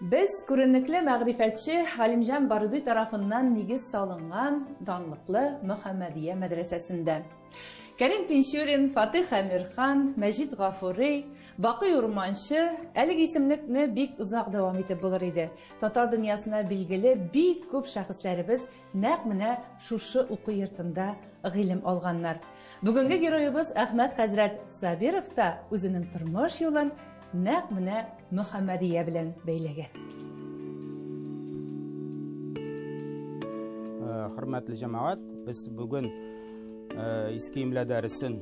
Без күренекле мәгърифәтче Галимҗан Баруди тарафыннан нигез салынган данлыклы Мөхәммәдия мәдрәсәсендә. Кәрим Тинчурин, Фатих Әмирхан, Мәҗит Гафури, Бакый Урманчы, әлеге исемлекне бик озак дәвам итеп булыр иде, татар дөньясына билгеле бик күп шәхесләребез Нәкъ менә шушы уку йортында гыйлем алганнар. Бүгенге героебыз Әхмәт хәзрәт Сабиров та үзенең тормыш юлын нәкъ менә Мөхәммәдия белән бәйләгән. хөрмәтле җәмәгать, без бүген э, иске имлә дәресен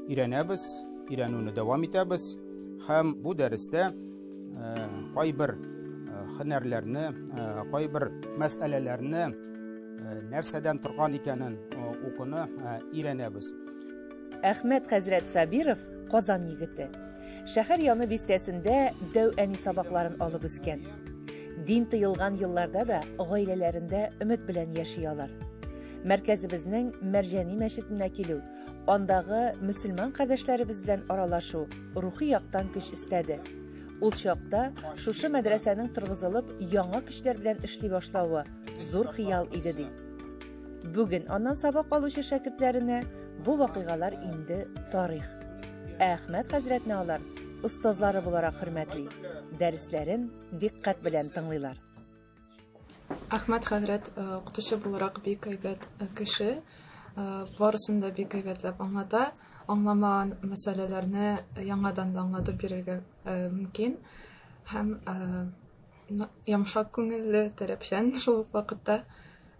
өйрәнәбез, өйрәнүне дәвам итәбез һәм бу дәрестә кайбер һөнәрләрне, кайбер мәсьәләләрне нәрсәдән торган икәнен укуны өйрәнәбез. Әхмәт хәзрәт Сабиров Казан егете. Шәһәр яны бистәсендә дәү әни сабакларын алып үскән. Дин тыелган елларда да гаиләләрендә өмет белән яши алар. Мәркәзебезнең Мәрҗәни мәчетенә килү Андагы мөселман кардәшләребез белән аралашу рухи яктан көч өстәде. Ул чакта шушы мәдрәсәнең торгызылып, яңа көчләр белән эшли башлавы зур хыял иде ди. Бүген аннан сабак алучы шәкертләренә бу вакыйгалар инде тарих. Ә Әхмәт хәзрәтне алар остазлары буларак хөрмәтли, дәресләрен дикъкать белән тыңлыйлар. Әхмәт хәзрәт укытучы буларак бик әйбәт кеше. Барысын да бик әйбәтләп аңлата. Аңламаган мәсьәләләрне яңадан да аңлатып бирергә мөмкин. Һәм ямшак күңелле, таләпчән шул ук вакытта.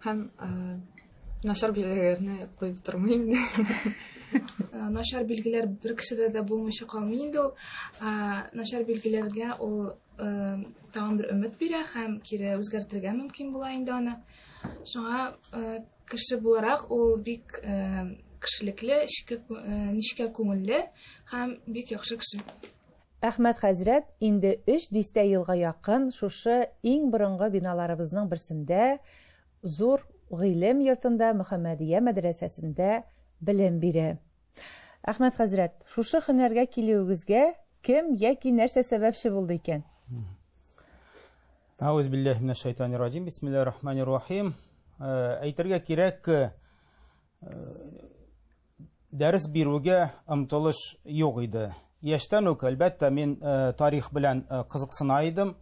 Һәм начар билгеләрне куеп тормый инде. Начар билгеләр бер кешедә дә булмыйча калмый инде ул. Начар билгеләргә ул тагын бер өмет бирә һәм кире үзгәртергә мөмкин була инде аны. Шуңа кеше буларак ул бик кешелекле, нечкә күңелле һәм бик яхшы кеше. Әхмәт хәзрәт инде өч дистә елга якын шушы иң борынгы биналарыбызның берсендә, зур гыйлем йортында Мөхәммәдия мәдрәсәсендә белем бирә. Әхмәт хәзрәт, шушы хөнәргә килүегезгә кем яки нәрсә сәбәпче булды икән? Ауз билләһи минәш шайтанир раҗим. Бисмиллаһир рахманир рахим. Э, әйтергә кирәк, э, дәрес бирүгә омтылыш юк иде. Яшьтән үк, әлбәттә, мин э, тарих белән кызыксына идем.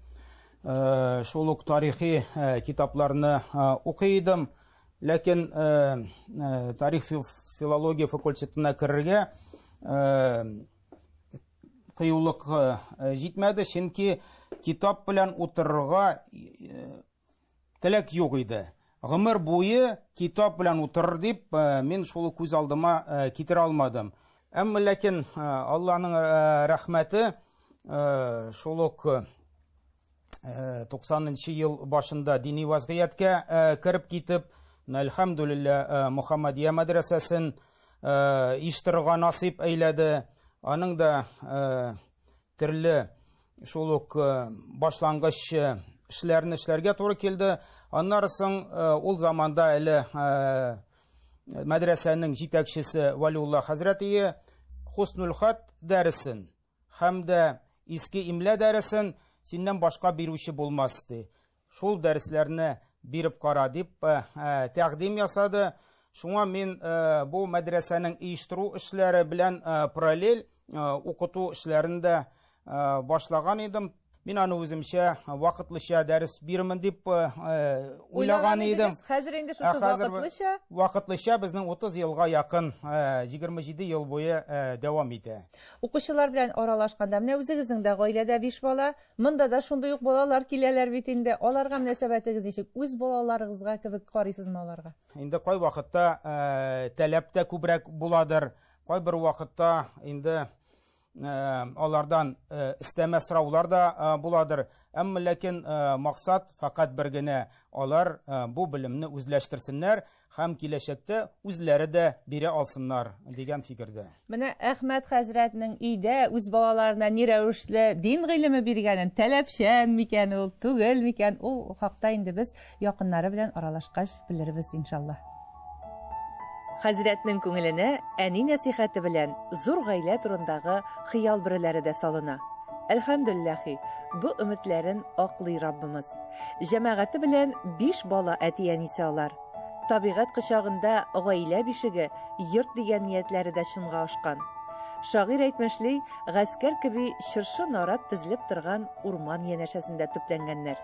Шул ук тарихи китапларны укый идем. Ләкин тарих филология факультетына керергә кыюлык җитмәде, чөнки китап белән утырырга теләк юк иде. Гомер буе китап белән утырыр дип, мин шул күз алдыма китерә алмадым. Әмма ләкин Алланың рәхмәте шул ук 90-нчы э, ел башында дини вазгыятькә э, кереп китеп, әлхәмдүлиллә, э, Мухаммадия мәдрәсәсен иштырырга насип әйләде. Аның да төрле шул ук башлангыч эшләрне эшләргә туры килде. Аннары соң ул заманда әле мәдрәсәнең җитәкчесе Валиулла хәзрәтие Хуснулхат дәресен Һәм дә иске имлә дәресен синнән башка бирүче булмас, ди. Шул дәресләрне биреп кара, дип тәкъдим ясады. Шуңа мин бу мәдрәсәнең оештыру эшләре белән параллель укыту эшләрен дә башлаган идем. Мин аны үземчә вакытлыча дәрес бирмен дип уйлаган идем. Хәзер инде шушы вакытлыча? Вакытлыча безнең 30 елга якын, 27 ел буе дәвам итә. Укучылар белән аралашканда, менә үзегезнең дә гаиләдә биш бала, монда да шундый ук балалар киләләр бит инде. Аларга мөнәсәбәтегез ничек? Үз балаларыгызга кебек карыйсызмы аларга? Инде кай вакытта таләп тә күбрәк буладыр, кайбер вакытта инде алардан истәмә сораулар да буладыр. Әмма ләкин максат факат бер генә, алар бу белемне үзләштерсеннәр һәм киләчәктә үзләре дә бирә алсыннар дигән фикердә. Менә Әхмәт хәзрәтнең өйдә үз балаларына ни рәвешле дин гыйлеме биргәнен, таләпчән микән ул, түгел микән, ул хакта инде без Якыннары белән аралашкач белербез иншаллаһ. Хәзрәтнең күңеленә әни нәсыйхәте белән зур гаилә турындагы хыял бөреләре дә салына. Әлхәмдүлләхи, бу өметләрен аклый Раббымыз. Җәмәгате белән биш бала әти-әнисе алар. Табигать кочагында гаилә бишеге, йорт дигән ниятләре дә чынга ашкан. Шагыйрь әйтмешли, гаскәр кеби чыршы-нарат тезелеп торган урман янәшәсендә төпләнгәннәр.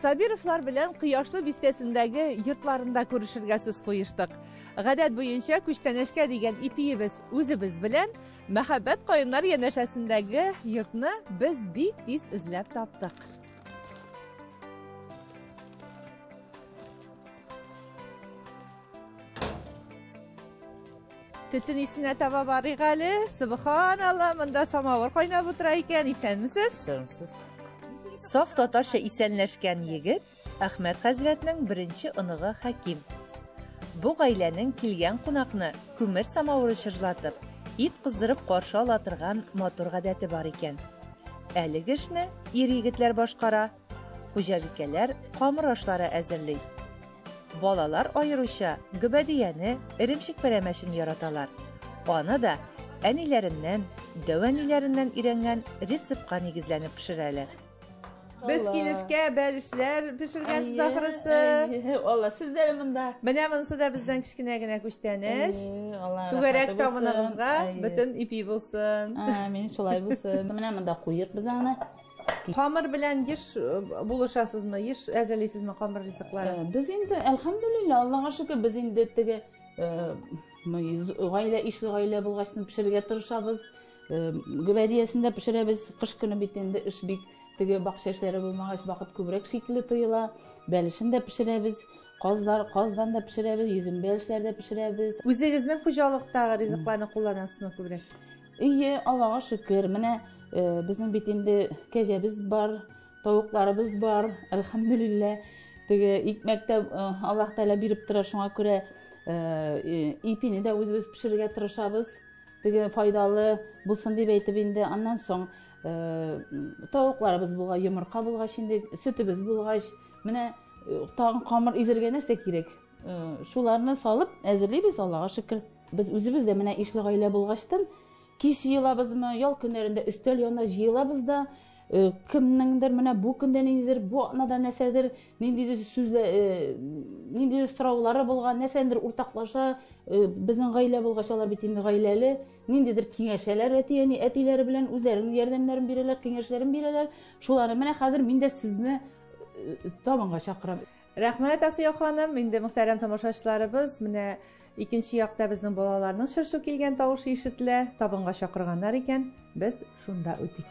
Сабировлар белән Кояшлы бистәсендәге йортларында күрешергә сүз куештык. Гадәт буенча күчтәнәшкә дигән ипиебез үзебез белән, Мәхәббәт каеннар янәшәсендәге йортны без бик тиз эзләп таптык. Төтен исенә таба барыйк әле. Субханалла, монда самавыр кайнап утыра икән. Исәнмесез? Исәнмесез. Саф татарча исәнләшкән егет Әхмәт хәзрәтнең беренче оныгы Хәким. Бу гаиләнең килгән кунакны күмер самавыры чыжлатып, ит кыздырып каршы ала торган матур гадәте бар икән. Әлеге эшне ир егетләр башкара, Хуҗабикәләр камыр ашлары әзерли. Балалар аеруча гөбәдияне, эремчек пәрәмәчен яраталар. Аны да әниләреннән, дәүәниләреннән өйрәнгән рецептка нигезләнеп пешерәләр. Без килешкә бәлешләр пешергәнсез ахрысы. Алла, сез дә монда. Менә монысы да бездән кечкенә генә күчтәнеш. Түгәрәк тамыныгызга бөтен ипи булсын. Амин, шулай булсын. Менә монда куйык без аны. Камыр белән еш э, булышасызмы, еш әзерлисезме камыр ризыклары? Э, без инде, әлхәмдулилла, Аллага шөкер, без инде теге э, гаилә, ишле гаилә булгачны пешерергә тырышабыз. Гөбәдиясендә пешерәбез, кыш көне бит инде эш бик теге бакча эшләре булмагач, вакыт күбрәк шикле тоела. Бәлешен дә пешерәбез, казлар, каздан да пешерәбез, йөзем бәлешләр дә пешерәбез. Үзегезнең хуҗалыктагы ризыкларны кулланасызмы күбрәк? Ие, Аллага шөкер, менә безнең бит инде кәҗәбез бар, тавыкларыбыз бар, әлхәмдүлиллә. Теге икмәк тә Аллаһ Тәгалә биреп тора, шуңа күрә ипине дә үзебез пешерергә тырышабыз. Теге файдалы булсын дип әйтеп инде. Аннан соң тавыкларыбыз булгач, йомырка булгач инде, сөтебез булгач, менә тагын камыр изергә нәрсә кирәк? Шуларны салып әзерлибез, Аллага шөкер. Без үзебез дә менә ишле гаилә булгачтын, кич җыелабызмы, ял көннәрендә өстәл янына җыелабыз да, кемнеңдер менә бу көндә ниндидер, бу атнада нәрсәдер, ниндидер сүзлә, ниндидер сораулары булган, нәрсәдер уртаклаша, безнең гаилә булгач алар бит инде гаиләле, ниндидер киңәшәләр әти-әни, әтиләре белән үзләренең ярдәмнәрен бирәләр, киңәшләрен бирәләр. Шуларны менә хәзер мин дә сезне табынга чакырам. Рәхмәт, Асия ханым. Инде мөхтәрәм тамашачыларыбыз, менә икенче якта безнең балаларның шыршу килгән тавышы ишетелә. Табынга чакырганнар икән, без шунда үтик.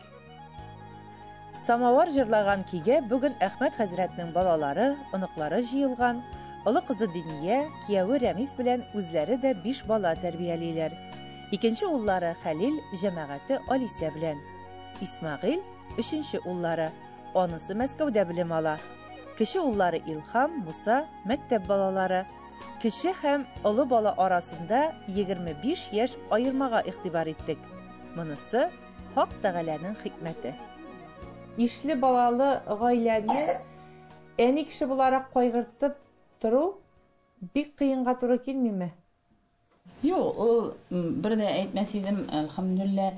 Самавар җырлаган көйгә бүген Әхмәт хәзрәтнең балалары, оныклары җыелган. Олы кызы Диния, кияве Рәмис белән үзләре дә биш бала тәрбиялиләр. Икенче уллары Хәлил, җәмәгате Алисә белән. Исмәгыйль, өченче уллары. Анысы Мәскәүдә белем ала. Кече уллары Илхам, Муса, мәктәп балалары. Кече һәм олы бала арасында 25 яшь аермага игътибар иттек. Монысы Хак Тәгаләнең хикмәте. Ишле балалы гаиләне әни кеше буларак кайгыртып тору бик кыенга туры килмиме? Юк, ул бер дә әйтмәс идем, әлхәмдүлилләһ,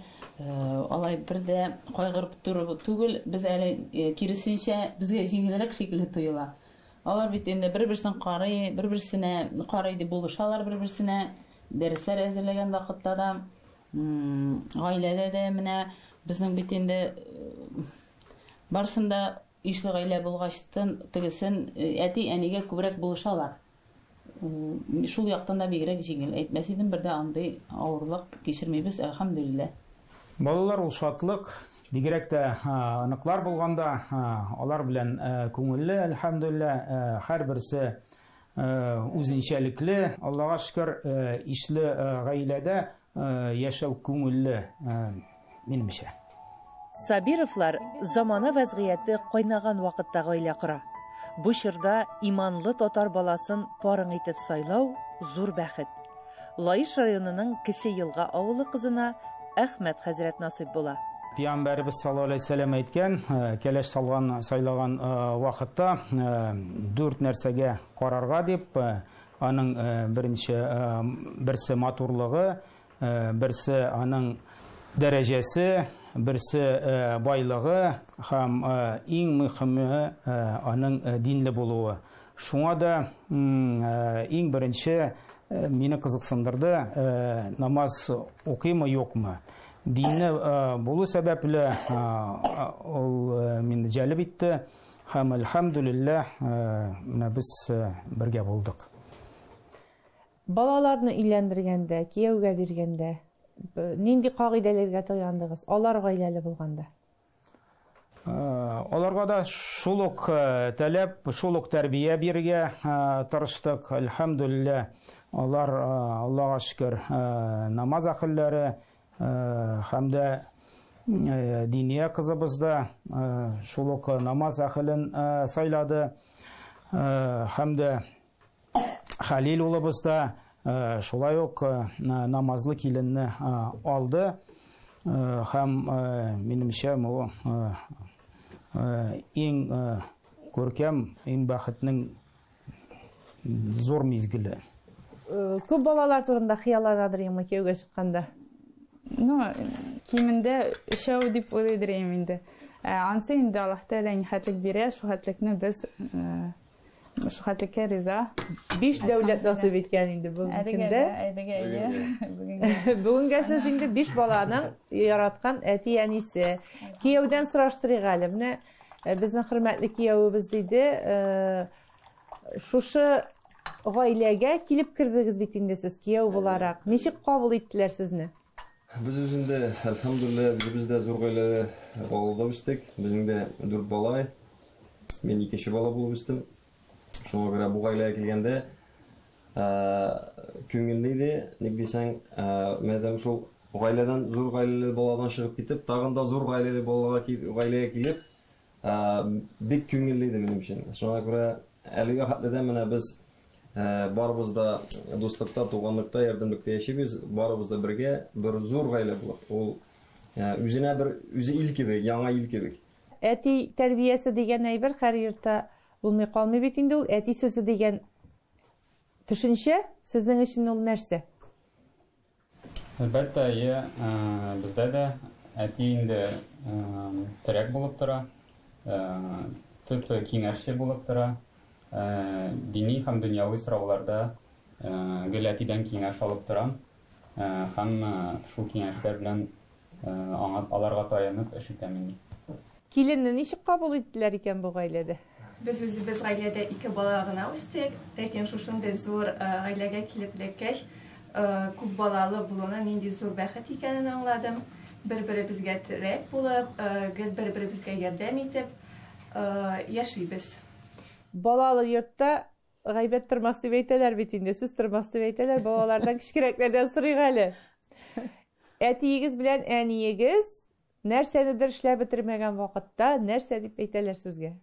алай бер дә кайгырып торып түгел, без әле киресенчә, безгә җиңелрәк шикелле тоела. Алар бит инде бер-берсен карый, бер-берсенә карый дип булышалар бер-берсенә, дәресләр әзерләгән вакытта да, гаиләдә дә менә безнең бит инде барсын да Ишле гаилә булгач тын, тегесен, әти, әнигә күбрәк булышалар. Шул яктан да бигрәк җиңел. Әйтмәс идем, бер дә андый авырлык кичермибез, әлхәмдүлиллә. Балалар ул шатлык, бигрәк тә оныклар булганда, алар белән күңелле, әлхәмдүлиллә, һәрберсе үзенчәлекле, Аллага шөкер, ишле гаиләдә яшәү күңелле, минемчә. Сабировлар замана вәзгыяте кайнаган вакытта гаилә кора. Бу чорда иманлы татар баласын парың итеп сайлау, зур бәхет. Лаеш районының Кече Елга авылы кызына Әхмәт хәзрәт насыйп була. Пиамбәребез саллаллаһу алейһи вәсәлләм әйткән, кәләш салган, сайлаган вакытта дүрт нәрсәгә карарга дип, аның беренче берсе матурлыгы, берсе аның дәрәҗәсе, берсе байлыгы һәм иң мөхиме аның динле булуы. Шуңа да иң беренче мине кызыксындырды, намаз укыймы, юкмы. Динне булу сәбәпле ул мине җәлеп итте һәм әлхәмдүлилләһ менә без бергә булдык. Балаларны өйләндергәндә, кияүгә биргәндә нинди кагыйдәләргә таяндыгыз, алар гаиләле булганда? Аларга да шул ук таләп, шул ук тәрбия бирергә тырыштык. Әлхәмдүлиллә, алар, Аллага шөкер, намаз әхелләре һәм дә Диния кызыбыз да шул ук намаз әхелен сайлады һәм дә Хәлил улыбыз да шулай ук намазлы киленне алды һәм минемчә бу иң күркәм, иң бәхетнең зур мизгеле. Күп балалар турында хыялланадыр инде кияүгә чыкканда. Ну, кимендә өчәү дип уйлыйдыр инде. Ансы инде Аллаһ Тәгалә нихәтлек бирә, шул хәтлекне без Мәшәкатькә риза. Биш дәүләт насыйп иткән инде бүгенге көндә. Әйдәгә, әйдәгә. Бүгенгә сез инде биш баланың яраткан әти әнисе. Кияүдән сораштырыйк әле. Менә э, безнең хөрмәтле кияүебез диде, э, шушы гаиләгә килеп кердегез бит инде сез кияү буларак. Ничек кабул иттеләр сезне? Без үзендә, әлхәмдүлилләһ, үзебез дә зур гаиләле авылда үстек. Безнең дә дүрт бала. Мин икенче бала булып үстем. Шуңа күрә бу гаиләгә килгәндә, күңелле иде, ник дисәң, мәдәм шул гаиләдән, зур гаиләле баладан чыгып китеп, тагын да зур гаиләле балага, гаиләгә килеп, Бик күңелле иде минем өчен. Шуңа күрә әлегә хәтле дә менә без барыбыз да дуслыкта, туганлыкта, ярдәмлектә яшибез, барыбыз да бергә бер зур гаилә булып. Ул үзенә бер үзе ил кебек, яңа ил кебек. Әти тәрбиясе дигән әйбер һәр йортта булмый калмый бит инде ул. Әти сүзе дигән төшенчә сезнең өчен ул нәрсә? Әлбәттә, әйе, бездә дә әти инде терәк булып тора, төп киңәшче булып тора. Дини һәм дөньяви сорауларда гел әтидән киңәш алып торам һәм шул киңәшләр белән Аңа, аларга таянып, эш итәмен, ди. Киленне ничек кабул иттеләр икән бу гаиләдә? Без үзебез гаиләдә ике бала гына үстек. Ләкин шушындый зур гаиләгә килеп эләккәч, күп балалы булуның нинди зур бәхет икәнен аңладым. Бер-беребезгә терәк булып, гел бер-беребезгә ярдәм итеп яшибез. Балалы йортта Гайбәт тормас дип әйтәләр бит инде, сүз тормас дип әйтәләр, балалардан кечкерәкләрдән сорыйк әле. Әтиегез белән әниегез нәрсәнедер эшләп бетермәгән вакытта нәрсә дип әйтәләр сезгә?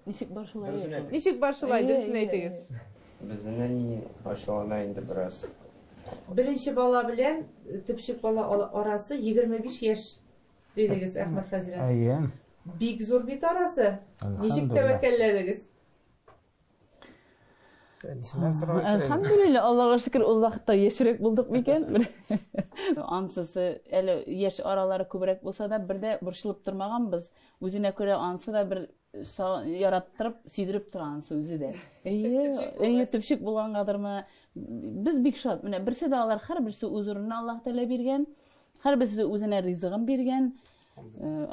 Ничек бар шулай? Ничек бар шулай, дөресен әйтегез. Безнең әни ачулана инде бераз. Беренче бала белән төпчек бала арасы 25 яшь дидегез, Әхмәт хәзрәт. Әйе. Бик зур бит арасы. Ничек тәвәккәлләдегез? нисеннән сорарга кирәк әлхәмдулилла аллага шөкер ул вакытта яшьрәк булдык микән ансысы әле яшь аралары күбрәк булса да бер дә борчылып тормаганбыз үзенә күрә ансы да бер яраттырып сөйдереп тора ансы үзе дә әйе әйе төпчек булгангадырмы без бик шат менә берсе дә алар һәрберсе үз урынына аллаһ тәгалә биргән һәрберсе үзенә ризыгын биргән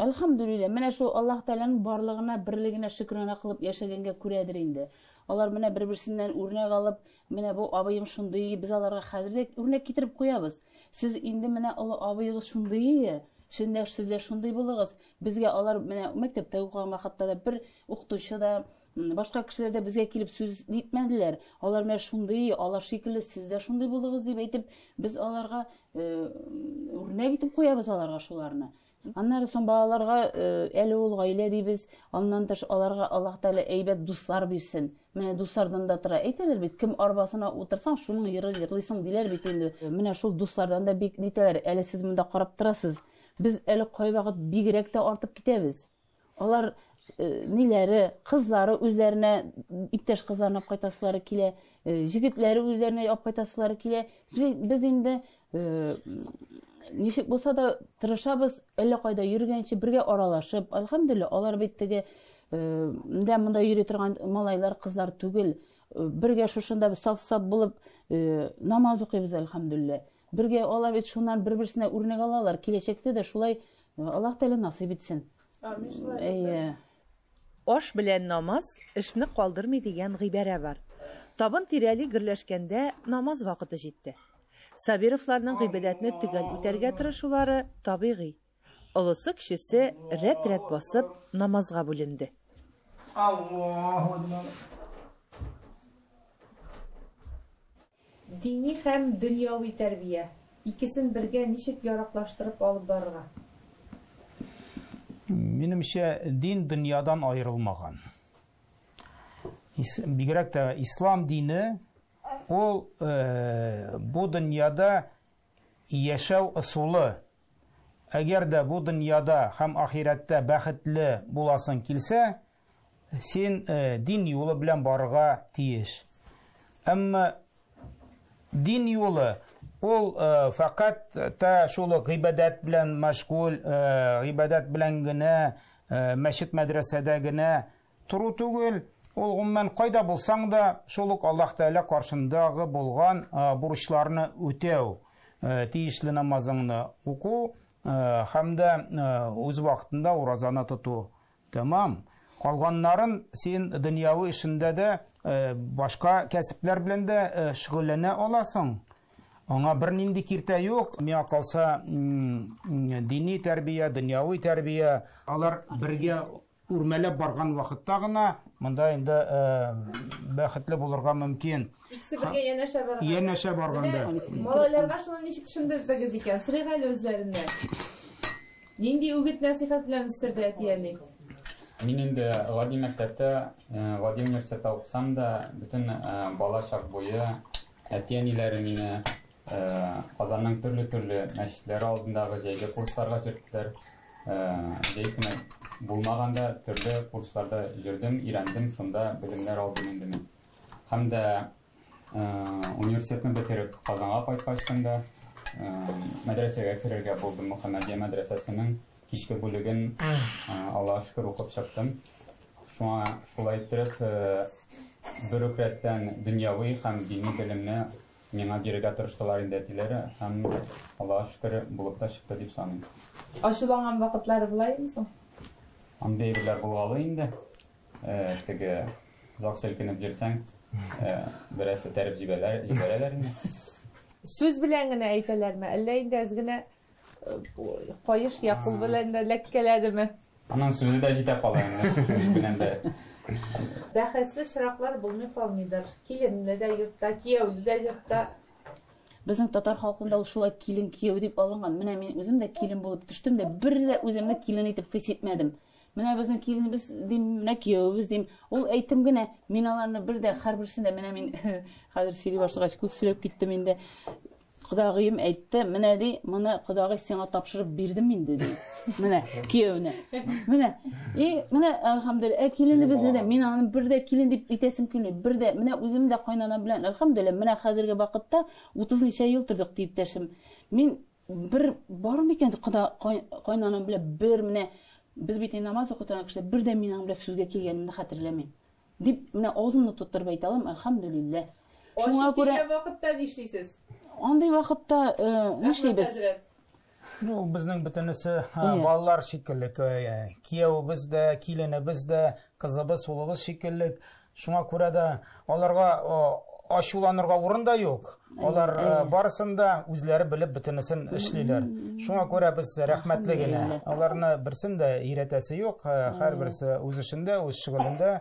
Әлхәмдүлилләһ, менә шул Аллаһ Тәгаләнең барлыгына, берлегенә шөкранә кылып яшәгәнгә күрәдер инде. Алар менә бер-берсеннән үрнәк алып, менә бу абыем шундый, без аларга хәзер дә үрнәк китереп куябыз. Сез инде менә олы абыегыз шундый, сез дә, сез дә шундый булыгыз. Безгә алар менә мәктәптә укыган вакытта да бер укытучы да, Башка кешеләр дә безгә килеп сүз нитмәделәр. Алар менә шундый, алар шикелле сез дә шундый булыгыз дип әйтеп, без аларга үрнәк итеп куябыз аларга шуларны. Аннары соң балаларга әле ул гаилә дибез, аннан тыш аларга Аллаһ Тәгалә әйбәт дуслар бирсен. Менә дуслардан да тора. Әйтәләр бит, кем арбасына утырсаң, шуның йыры йырлыйсың диләр бит инде. Менә шул дуслардан да бик нитәләр. Әле сез монда карап торасыз. Без әле кайвакыт бигрәк тә артып китәбез. Алар э, ниләре, кызлары үзләренә иптәш кызларына алып кайтасылары килә, э, җегетләре үзләренә алып кайтасылары килә. Без, без инде э, ничек булса да тырышабыз, әллә кайда йөргәнче бергә аралашып, альхамдулилла, алар бит теге дә монда йөри торган малайлар, кызлар түгел. Бергә шушында саф-саф булып намаз укыйбыз, альхамдулилла. Бергә алар бит шуннан бер-берсенә үрнәк алалар. Киләчәктә дә шулай Аллаһ Тәгалә насыйп итсен. Амин шулай булсын. Әйе. Аш белән намаз эшне калдырмый дигән гыйбарә бар. Табын тирәли гөрләшкәндә намаз вакыты җитте. Сабировларның гыйбадәтне төгәл үтәргә тырышулары табигый. Олысы-кечесе рәт-рәт басып намазга бүленде. Аллаһу Акбар. Дини һәм дөньяви тәрбия, икесен бергә ничек яраклаштырып алып барырга? Минемчә, дин дөньядан аерылмаган. Бигрәк тә ислам дине ул э, бу дөньяда яшәү ысулы. Әгәр дә бу дөньяда һәм ахирәттә бәхетле буласың килсә, Син э, дин юлы белән барырга тиеш. Әмма дин юлы ул э, фәкать та шул гыйбадәт белән мәшгуль, э, гыйбадәт белән генә, э, мәчет мәдрәсәдә генә тору түгел, ул гомумән кайда булсаң да, шул ук Аллаһ Тәгалә каршындагы булган э, бурычларны үтәү, э, тиешле намазыңны уку э, һәм дә э, үз вакытында уразаны тоту. Тәмам. Калганнарын син дөньяви эшендә дә, башка кәсепләр белән дә шөгыльләнә аласың. Аңа бернинди киртә юк. Миңа калса, дини тәрбия, дөньяви тәрбия, алар бергә үрмәләп барган вакытта гына монда инде э, бәхетле булырга мөмкин. Икесе бергә янәшә барганда. Янәшә барганда. Малайларга шуны ничек төшендердегез икән? Сырыйгали үзләреннән. Нинди үгет-нәсыйхәт белән үстерде әти-әни? Мин инде гади мәктәптә, гади университетта укысам да, бөтен бала чак буе әти-әниләре мине Казанның төрле-төрле мәчетләре алдындагы җәйге курсларга җөрттеләр. Җәй көне булмаганда төрле курсларда җөрдем, өйрәндем, шунда белемнәр алдым инде мин. Һәм дә Университетны бетереп, Казанга кайткачтын да, мәдрәсәгә керергә булдым. Мөхәммәдия мәдрәсәсенең кичке бүлеген, Аллага шөкер, укып чыктым. Шуңа шулай иттереп, бер үк рәттән дөньяви һәм дини белемне миңа бирергә тырыштылар инде әтиләре һәм, Аллага шөкер, булып та чыкты дип саныйм. Ачуланган вакытлары була юкмы соң? Андый әйберләр булгалый инде. Теге зак селкенеп җирсәң, бераз этәреп җибәрәләр, җибәрәләр инде. Сүз белән генә әйтәләрме, әллә инде әз генә каеш я кул белән дә ләккәләдеме? Аның сүзе дә җитә кала инде, сүз белән дә. Бәхәсле чираклар булмый калмыйдыр. Киленле дә йортта, кияүле дә йортта. Безнең татар халкында ул шулай килен кияү дип алынган. Менә мин үзем дә килен булып төштем дә, бер дә үземне килен итеп хис итмәдем. Менә безнең киленебез дим, менә киявебез дим. Ул әйтем генә, мин аларны бер дә һәрберсен дә менә мин хәзер сөйли башлагач күп сөйләп киттем инде. Кодагыем әйтте, менә ди, моны кодагый сиңа тапшырып бирдем инде ди. Менә киявенә. Менә. И менә әлхәмдүлилләһ, ә киленебезне дә мин аны бер дә килен дип итәсем килми. Бер дә менә үзем дә кайнана белән әлхәмдүлилләһ, менә хәзерге вакытта 30 ничә ел тордык дип дәшем. Мин Бер бар микән ди, кода кай- кайнанам белән бер менә без бит инде намаз укый торган кешеләр, бер дә мин аның белән сүзгә килгәнемне хәтерләмим. Дип, менә авызымны тоттырып әйтә алам, әлхәмдүлилләһ. Шуңа Ачып күрә килгән вакытта нишлисез? андый вакытта э, Рәхмәт, нишлибез? хәзрәт. Ну, безнең бөтенесе а, Иә. балалар шикелле. К- э, Кияүебез дә, киленебез дә, кызыбыз, улыбыз шикелле. Шуңа күрә дә аларга ачуланырга урын да юк. Алар барысын да үзләре белеп бөтенесен эшлиләр. Шуңа күрә без рәхмәтле генә. Аларны берсен дә өйрәтәсе юк. Һәрберсе үз эшендә, үз шөгылендә.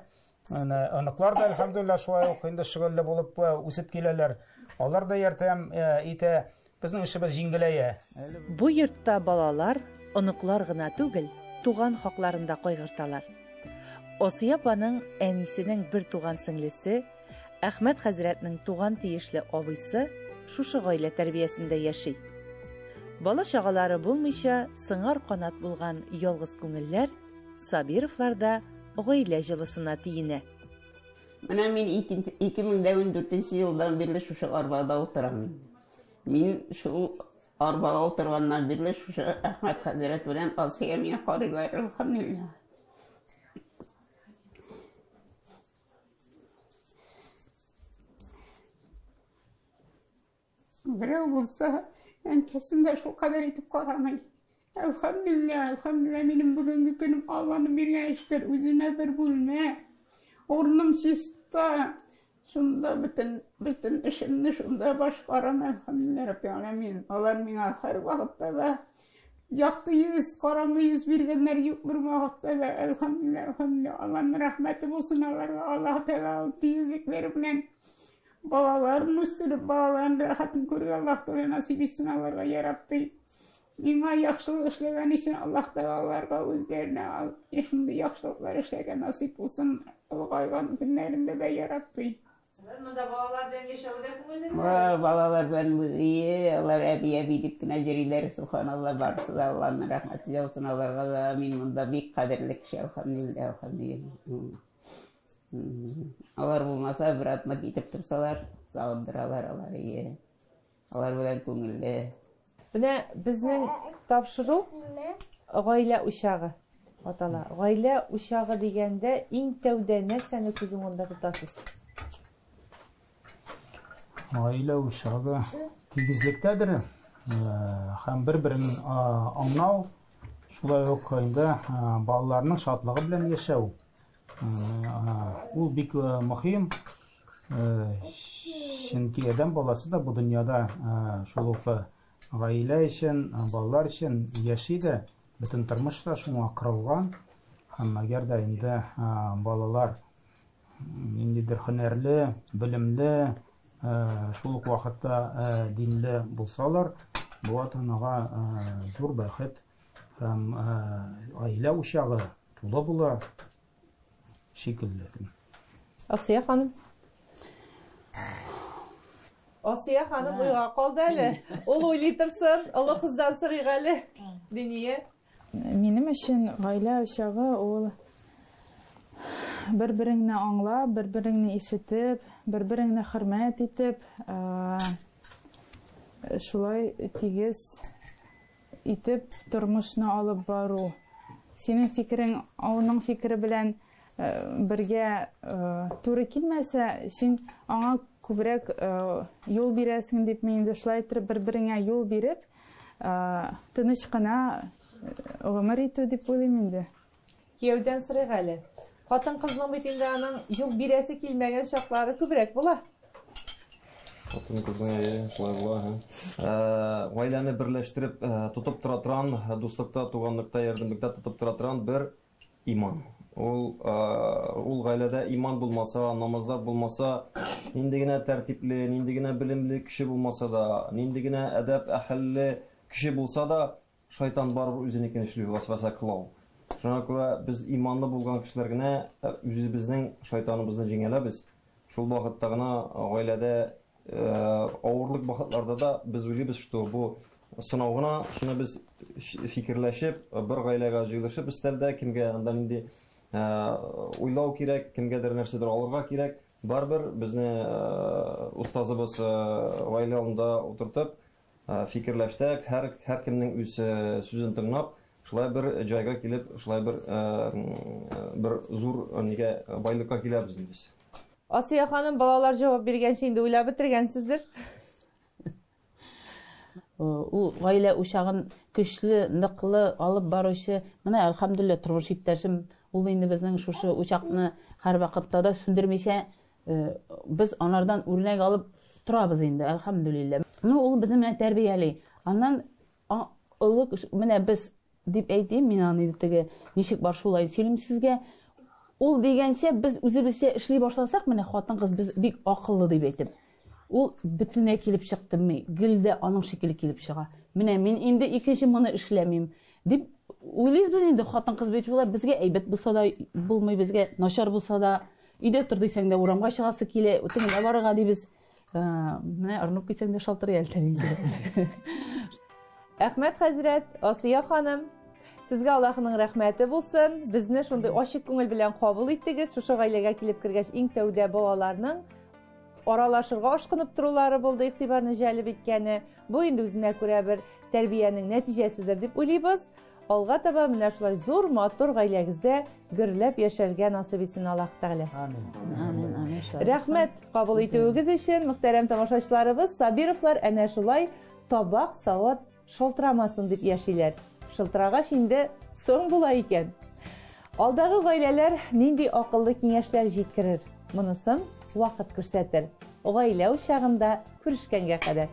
Менә аныклар да әлхәмдулилла шулай ук инде шөгылле булып үсеп киләләр. Алар да ярдәм итә. Безнең эшебез җиңеләя. Бу йортта балалар, оныклар гына түгел, туган хакларын да кайгырталар. Асия апаның әнисенең бертуган сеңлесе, Әхмәт хәзрәтнең туган тиешле абыйсы шушы гаилә тәрбиясендә яши. Бала-чагалары булмыйча, сыңар канат булган ялгыз күңелләр Сабировлар да гаилә җылысына тиенә. Менә мин ике мең дә ундүртенче елдан бирле шушы арбада утырам инде. Мин шул арбага утырганнан бирле шушы Әхмәт хәзрәт белән Алсия миңа карыйлар, әлхәмдулилла. Берәү булса, әнкәсен дә шул кадәр итеп карамый. Әлхәмдүлилләһ, әлхәмдүлилләһ, минем бүгенге көнем Алланың биргән эшкер, үземә бер бүлмә, урыным чиста, шунда бөтен, бөтен эшемне шунда башкарам, әлхәмдүлилләһ, Рабби Аләмин. Алар миңа һәр вакытта да якты йөз, караңгы йөз биргәннәр юк бер вакытта да, әлхәмдүлилләһ, әлхәмдүлилләһ, Алланың рәхмәте булсын аларга, Аллаһ Тәгалә ул тигезлекләре белән балаларын үстереп, балаларын рәхәтен күрергә Аллаһ Тәгалә насыйп итсен аларга, я Рабби. Миңа яхшылык эшләгән өчен Аллаһ Тәгалаларга үзләренә шундый яхшылыклар эшләргә насыйп булсын, олыгайган көннәрендә дә ярабби. Монда балалар белән яшәве дә күңеллеме? Балалар белән үзе, алар әби-әби дип кенә йөриләр, субханалла, барысы да Алланың рәхмәте яусын аларга да. Мин монда бик кадерле кеше, әлхәмдулиллаһ, әлхәмдулиллаһ. Алар булмаса, бер атна китеп торсалар, сагындыралар алар, ие. Алар белән күңелле. Менә безнең тапшыру гаилә учагы атала. Гаилә учагы дигәндә иң тәүдә нәрсәне күз уңында тотасыз? Гаилә учагы тигезлектәдер э, һәм бер-берен э, аңлау, шулай ук инде э, балаларның шатлыгы белән яшәү. Ул бик мөһим. Чөнки адәм баласы да бу дөньяда шул ук гаилә өчен, балалар өчен яши дә, бөтен тормыш та шуңа корылган. Һәм әгәр дә инде балалар ниндидер һөнәрле, белемле, шул ук вакытта динле булсалар, бу ата-анага зур бәхет. Һәм гаилә учагы тулы була шикелле. Асия ханым. Асия ханым уйга калды әле. Ул уйлый торсын, олы кыздан сорыйк әле. Диния. Минем өчен гаилә учагы ул бер-береңне аңлап, бер-береңне ишетеп, бер-береңне хөрмәт итеп, шулай тигез итеп тормышны алып бару. Синең фикерең аның фикере белән бергә туры килмәсә, син аңа күбрәк юл бирәсең дип мин инде шулай итеп бер-береңә юл биреп, тыныч кына гомер итү дип уйлыйм инде. Кияүдән сорыйк әле. Хатын-кызның бит инде аның юк бирәсе килмәгән чаклары күбрәк була. Хатын кызның әйе, шулай була. Ә, гаиләне берләштереп ә, тотып тора торган, дуслыкта, туганлыкта, ярдәмлектә тотып тора торган бер иман. Ул ә, ул гаиләдә иман булмаса, намазлар булмаса, нинди генә тәртипле, нинди генә белемле кеше булмаса да, нинди генә әдәп әһелле кеше булса да, Шайтан барыбер үзенекен эшли, вәсвәсә кыла ул. Шуңа күрә без иманлы булган кешеләр генә үзебезнең шайтаныбызны җиңәләбез. Шул вакытта гына гаиләдә авырлык вакытларда да без уйлыйбыз, что бу сынау гына, шуны без фикерләшеп, бер гаиләгә җыелышып өстәлдә, кемгә анда нинди уйлау кирәк, кемгәдер нәрсәдер алырга кирәк, барыбер безне устазыбыз гаилә алдында утыртып, Фикерләштек, һәр һәркемнең үз сүзен тыңлап, шулай бер җайга килеп, шулай бер бер зур нигә байлыкка киләбез ди без. Асия ханым, балалар җавап биргәнче инде уйлап бетергәнсездер? Ул гаилә учагын көчле, ныклы алып баручы, менә әлхәмдүлилләһ, тормыш иптәшем, ул инде безнең шушы учакны һәрвакытта да сүндермичә э, без анардан үрнәк алып торабыз инде әлхәмдүлиллә ну ул безне менә тәрбияли аннан олы менә без дип әйтим мин аны теге ничек бар шулай сөйлим сезгә ул дигәнчә без үзебезчә эшли башласак менә хатын кыз без бик акыллы дип әйтеп ул бөтенләй килеп чыкты гел дә аның шикелле килеп чыга менә мин инде икенче моны эшләмим дип уйлыйбыз инде хатын кыз бит шулай безгә әйбәт булса да булмый безгә начар булса да Өйдә тор дисәң дә урамга чыгасы килә, үтеп генә барырга дибез. Ә, Менә ырынып китсәң дә шалтырый әле тән инде. Әхмәт хәзрәт, Асия ханым, сезгә Аллаһның рәхмәте булсын. Безне шундый ачык күңел белән кабул иттегез. Шушы гаиләгә килеп кергәч, иң тәүдә балаларның аралашырга ашкынып торулары булды, игътибарны җәлеп иткәне. Бу инде үзенә күрә бер тәрбиянең нәтиҗәседер дип уйлыйбыз. Алга таба менә шулай зур матур гаиләгездә гөрләп яшәргә насыйп итсен Аллаһ Тәгалә. Амин. Амин. Амин. Рәхмәт кабул итүегез өчен, мөхтәрәм тамашачыларыбыз, Сабировлар әнә шулай табак савыт шалтырамасын дип яшиләр. Шылтырагач инде соң була икән. Алдагы гаиләләр нинди акыллы киңәшләр җиткерер? Монысын вакыт күрсәтер. Гаилә учагында күрешкәнгә кадәр.